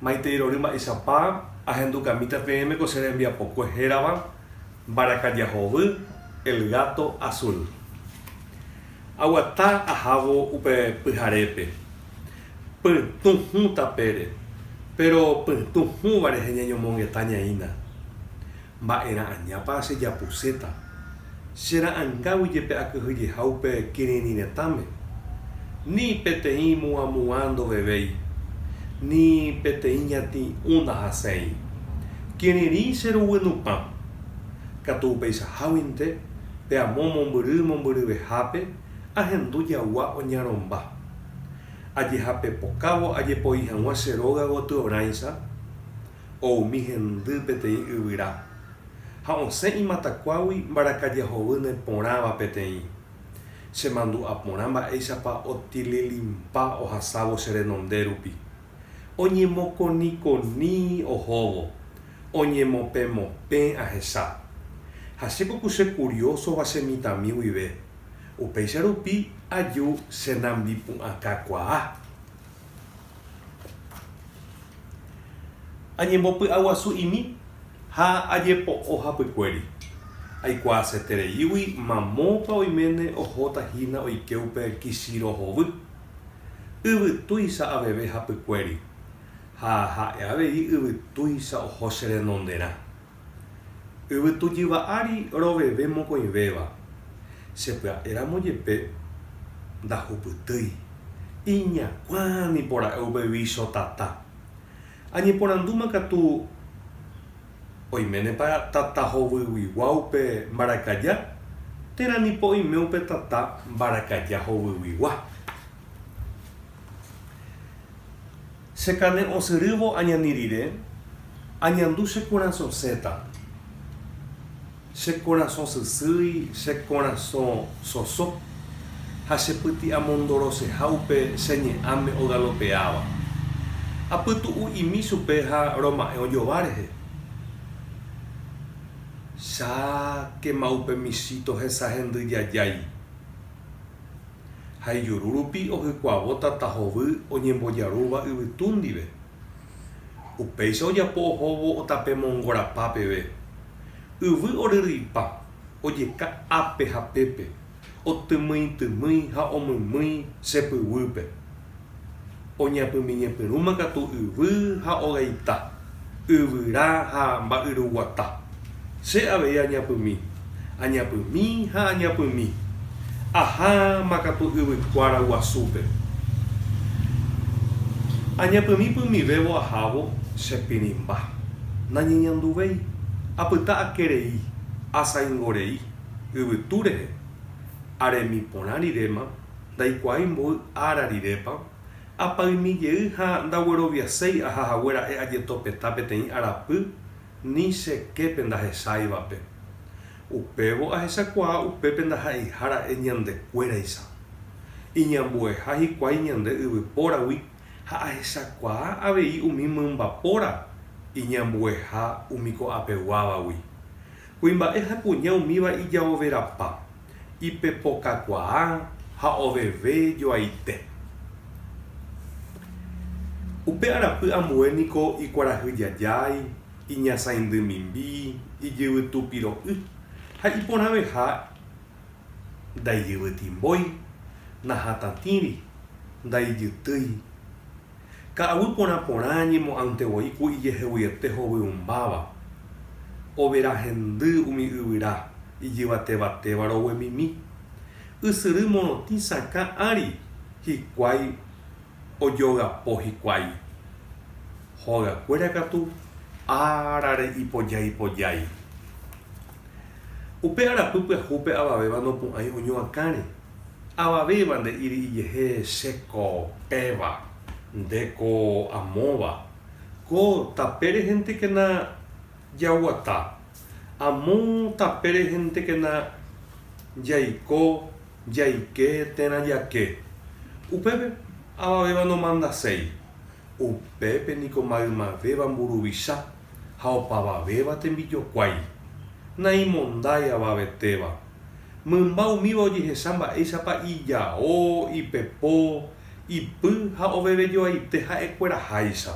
Maitei rory mba'eichapa ahendu kamíta peẽme ko che rembiapokue hérava mbarakaja hovy, el gato azul. Aguata ahávo upe pyharépe. Pytũ hũ tapére, péro pytũ hũva rehe ñañomongeta ñaína. Mba'era'añápa chejapuséta? Chera'angágui jepe akyhyjeha upe kirirĩ retãme. Ni peteĩ muãmuã ndovevéi, ni peteĩ ñati'ũ ndahaséi. Kirirĩ che ruguy nupã. Katu upeichaháguinte, pe amo mombyry mombyryvehápe ahendu jagua oñaromba. Ajehapepokávo ajepoi hag̃ua che róga gotyorãicha. o umi hendy peteĩ yvyra, ha osẽ imatakuágui mbarakaja hovýne porãva peteĩ. Chemandu'a porã mba'éichapa otililimpa ohasávo che renonde rupi. Oñemokonikoni ohóvo, oñemopẽmopẽ ahecha. Ha che poko che kuriósova che mitãmi guive, upéicha rupi aju che nambipu'ãkakuaa. Añembopy'aguasu'imi ha ajepo'o hapykuéri. Aikuaasetereígui mamópa oiméne ohóta hína oike upe Kishiro hovy. Yvytúicha aveve hapykuéri, ha ha'e avei yvytúicha oho che renonderã. Yvytu jyva ári roveve mokõivéva, che pya'éramo jepe ndahupytýi. Iñakuã nipora'e upégui cho tata. Añeporandúma katu oiménepa tata hovyguigua upe mbarakaja, térã nipo oime upe tata mbarakaja hovyguigua. Che carne osyrývo añani rire, añandu che korasõ séseta. Che korasõ sysýi, che korasõ soso, ha che pyti'amondoroseha upe che ñe'ãme ogalopeáva. Apytu'u imi chupe ha roma'ẽ ojova rehe. Cháke ma upe michíto hesa hendy jajái. ha ijuru rupi ohykuavo tata hovy oñembojarúva yvytu ndive. Upéicha ojapo ohóvo otape mongorapa peve. Yvy oryryipa ojeka ápe ha pépe, otymyitymýi ha omymýi chepyguýpe. Oñapymeñepyrũma katu yvy ha ogaita, yvyra ha mba'yruguata. Che avei añapymi, añapymi ha añapymi. Aháma katu yvykuára guasúpe. Añapymi pymivévo ahávo che pirĩmba. Nañeñanduvéi, apyta ake rei, asaingo rei, yvytu rehe. Aremi porã riréma Ndaikuaái mboy ára rirépa apaimi jey ha ndagueroviaséi aha hague ra'e ajetopeta peteĩ arapy ni che képe ndahecháivape. Upévo ahechakuaa upépe ndaha'eiha ra'e ñande kuéraicha. Iñambueha hikuái ñande yvypóragui ha ahechakuaa avei umi mymbapóra iñambueha umi ko'apeguávagui. Kuimba'e ha kuña umíva ijaoverapa, ipepokakuaa ha oveve joaite. Upe arapy ambue niko ikuarahyjajái, iñasãindy mimbi, ijyvytu piro'y ha iporãveha ndaijyvytimbói, nahatãtĩri, ndaijytýi. Ka'aguy porã porã ñemo'ãnte voi ku ijeheguiete hovyũmbáva, overa hendy umi yvyra ijyvatevatéva roguemimi. Ysyry morotĩ sakã ári hikuái ojogapo hikuái. Hogakuéra katu árare ipojái pojái. Upe arapy pyahúpe avavéva nopu'ãi oñoakãre. Avavéva nde'íri ijehe che ko péva, nde ko amóva. Ko tapére hentekena jaguata, amo tapére hentekena jaiko, jaike térã jake. Upépe avavéva nomandaséi. Upépe niko maymavéva mburuvicha. ha opavavéva tembijokuái, naimondái avavetéva. Mymba umíva ojehecha mba'éichapa ijao, ipepo, ipy ha ovevejoaite ha'ekueraháicha.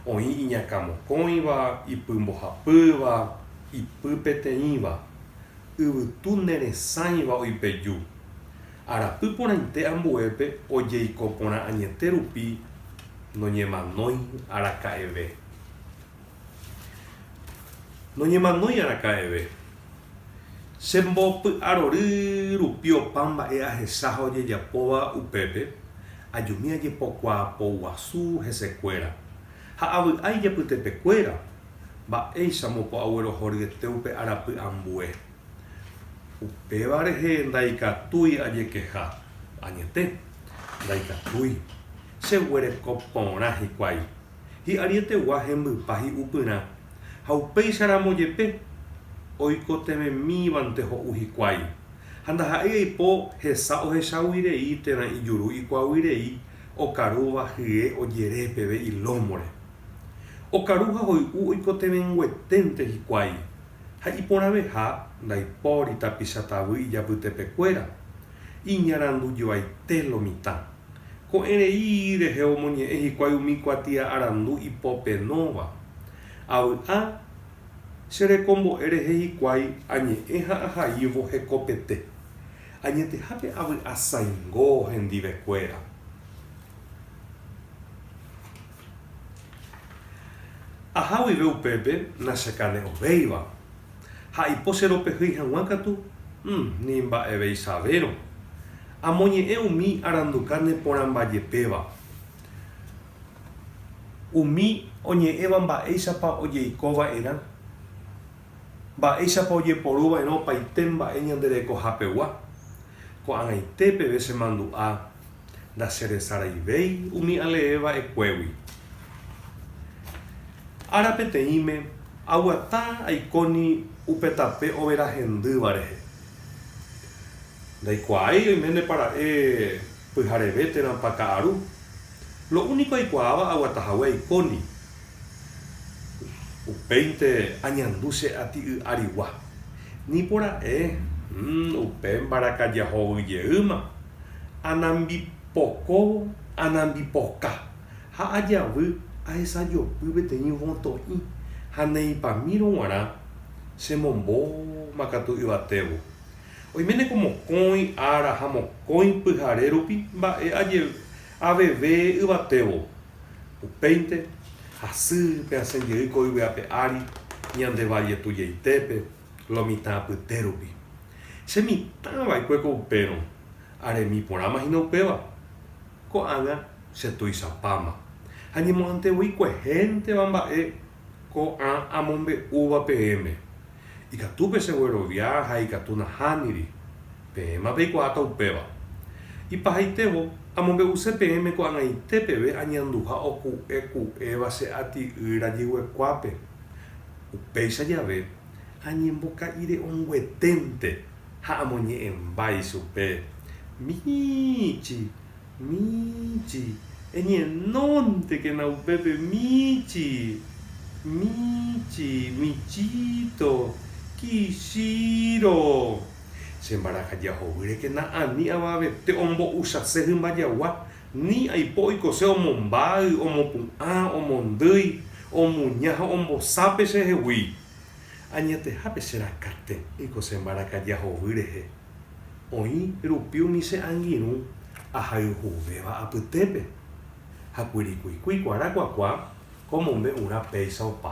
Oĩ iñakãmokõiva, ipy mbohapýva, ipy peteĩva. Yvytu neresãiva oipeju. Arapy porãite ambuépe ojeiko porã añete rupi noñemanói araka'eve. Noñemanói araka'eve. Che mbopy'arory rupi opa mba'e ahecha ha ojejapóva upépe, ajumi ajepokuaapoguasu hesekuéra, ha avy'ái jepytepekuéra, mba'éicha mopo'aguerohoryete upe arapy ambue. Upéva rehe ndaikatúi ajekeha, añete, ndaikatúi. Cheguereko porã hikuái. hi'arietegua hembypa hi'upyrã, ha upéicha ramo jepe oikotevẽmívante ho'u hikuái, ha ndaha'éi aipo hesa ohechagui rei térã ijuru ikuaagui rei okarúva hye ojere peve ilómore. Okaru ha hoy'u oikotevẽngueténte hikuái, ha iporãveha ndaipóri tapicha tavy ijapytepekuéra, iñarandujoaite lo mitã. Ko'ẽrei rehe omoñe'ẽ hikuái umi kuatia arandu ipopenóva, Avy'a, che rekombo'e rehe hikuái añe'ẽ ha ahaívo hekopete, añetehápe avy'asaingo hendivekuéra. Aha guive upépe nachakane'õvéiva, ha aipo che ropehýi hag̃ua katu, mm, ni mba'eveisavérõ. Amoñe'ẽ umi aranduka neporãmbajepéva. Umi oñe'ẽva mba'éichapa ojeiko va'erã, mba'éichapa ojeporu va'erã opaite mba'e ñande rekohapegua. Ko'ag̃aite peve che mandu'a. Ndacheresaraivéi umi alee va'ekuégui. Ára peteĩme aguata aikóni upe tape overa hendýva rehe. Ndaikuaái oiménepa ra'e pyhareve térãpa ka'aru. Lo úniko aikuaáva aguata hague aikóni. Upéinte añandu che aty y arigua. Nipora'e, mm, upe mbarakaja hovy jeýma. Anambipokóvo, anambipoka. Ha ajavy ahesajopy peteĩ võtoĩ ha neipamírõ guarã che mombóma katu yvatévo. Oiméne ko mokõi ára ha mokõi pyhare rupi mba'e ajeveve yvatévo. Upéinte, hasy pe asẽ jey ko yvy ape ári, ñande valle tuichaitépe, lo mitã apyte rupi. Che mitã va'ekue ko upérõ, aremi porãma hína upéva. Ko'ág̃a che tuichapáma, ha ñemo'ãnte voi kuehénteva mba'e ko'ã amombe'úva peẽme. Ikatu pe cheguerovia ha ikatu nahániri. Peẽma peikuaáta upéva. Ipahaitévo, amombe'use peẽme ko'ag̃aite peve añanduha oku'e ku'éva che ati'y rajyguekuápe. Upéicha jave, añemboka'ire'õngueténte ha amoñe'ẽmba ichupe, Miichi! Míchi. Eñenóntekena upépe míchi. Míchi. Michíto. Kichíro. Che mbarakaja ohovýrekena ani avavete ombo'uchase hymba jagua, ni aipo oikose omombáy, omopu'ã, omondýi, omuña ha ombosápe chehegui. Añetehápe che rakãte oikose mbarakaja hovy rehe. Oĩ rupi umi che angirũ ahayhuvéva apytépe, ha kuirikuikui kuarakuakua omombe'urã péicha opa.